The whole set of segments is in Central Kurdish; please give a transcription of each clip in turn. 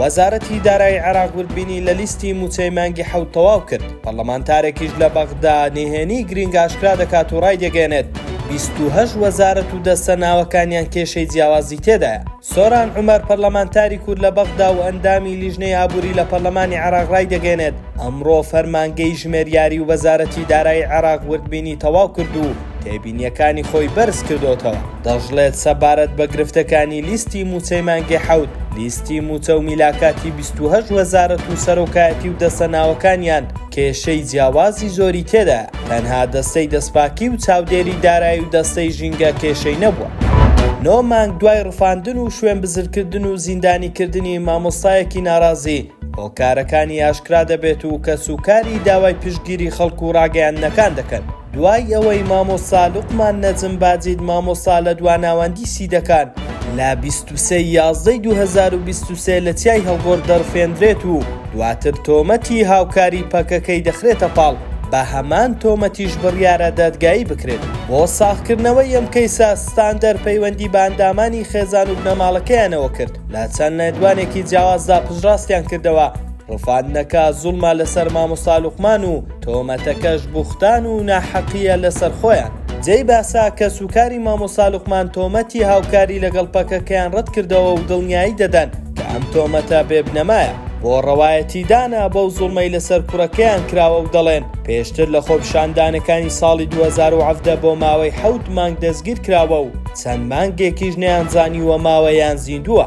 وەزارەتی دارایی عێراق وردبینی لە لیستی مووچەی مانگی حەوت تەواو کرد، پەڕڵەمانتارێکیش لە بەغدا نهێنیی گرینگ ئاشکرا دەکات و ڕایدەگەیەنێت، بیست و هەشت وەزارەت و دەستە ناوەکانیان کێشەی جیاوازی تێدایە. سۆران عومەر پەرلەمانتاری کورد لە بەغدا و ئەندامی لیژنەی ئابووری لە پەڕلەمانی عێراق ڕایدەگەیەنێت، ئەمڕۆ فەرمانگەی ژمێریاری و وەزارەتی دارایی عێراق وردبینی تەواو کرد و، تێبینیەکانی خۆی بەرزکردۆتەوە، دەشڵێت سەبارەت بە گرفتەکانی لیستی مووچەی مانگی حەوت، لیستی مووچە و میلاکاتی بیست و هەشت وەزارەت و سەرۆکایەتی و دەستە ناوەکانیان کێشەی جیاوازی زۆری تێدایە، تەنها دەستەی دەستپاکی و چاودێری دارایی و دەستەی ژینگە کێشەی نەبووە. نۆ مانگ دوای ڕفاندن و شوێنبزرکردن و زیندانیکردنی مامۆستایەکی ناڕازی، هۆکارەکانی ئاشکرا دەبێت و کەسوکاری داوای پشتگیری خەڵک و ڕاگەیاندنەکان دەکەن، دوای ئەوەی مامۆستا لوقمان نەجم باجید مامۆستا لە دوا ناوەندی سیدەکان لە بیست و سێ ی یازدە ی دوو هەزار و بیست و سێ لە چیای هەڵگۆڕ دەڕفێندرێت و دواتر تۆمەتی هاوکاری پەکەکەی دەخرێتە پاڵ بە هەمان تۆمەتیش بڕیارە دادگایی بکرێت بۆ ساغکردنەوەی ئەم کەیسە ستاندەر پەیوەندی بە ئەندامانی خێزان و بنەماڵەکەیانەوە کرد لە چەند لێدوانێکی جیاوازدا پشتڕاستیان کردەوە ڕفاندنەکە زوڵمە لەسەر مامۆستا لوقمان و تۆمەتەکەش بوختان و ناحەقیە لەسەر خۆیان. جێی باسە کەسوکاری مامۆستا لوقمان تۆمەتی هاوکاری لەگەڵ پەکەکەیان ڕەتکردەوە و دڵنیایی دەدەن کە ئەم تۆمەتە بێ بنەمایە بۆ ڕەوایەتیدانە بەو زوڵمەی لەسەر کوڕەکەیان کراوە و دەڵێن پێشتر لە خۆپیشاندانەکانی ساڵی دوو هەزار و حەڤدە بۆ ماوەی حەوت مانگ دەستگیرکراوە و چەند مانگێکیش نەیانزانیوە ماوە یان زیندووە.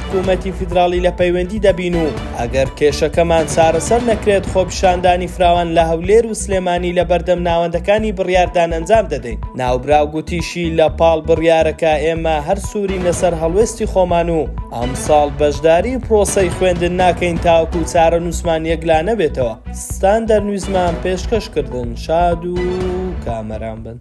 حکوومەتی فیدراڵی لە پەیوەندی دەبین و ئەگەر کێشەکەمان چارەسەر نەکرێت خۆپیشاندانی فراوان لە هەولێر و سلێمانی لە بەردەم ناوەندەکانی بڕیاردان ئەنجام دەدەین. ناوبراو گوتیشی، لە پاڵ بڕیارەکە ئێمە هەر سوورینە سەر هەڵوێستی خۆمان و ئەمساڵ بەشداری پرۆسەی خوێندن ناکەین تاوەکو چارەنووسمان یەکلانەبێتەوە، ستاندەرنویزمان پێشکەش کردن، شاد و کامەران بن.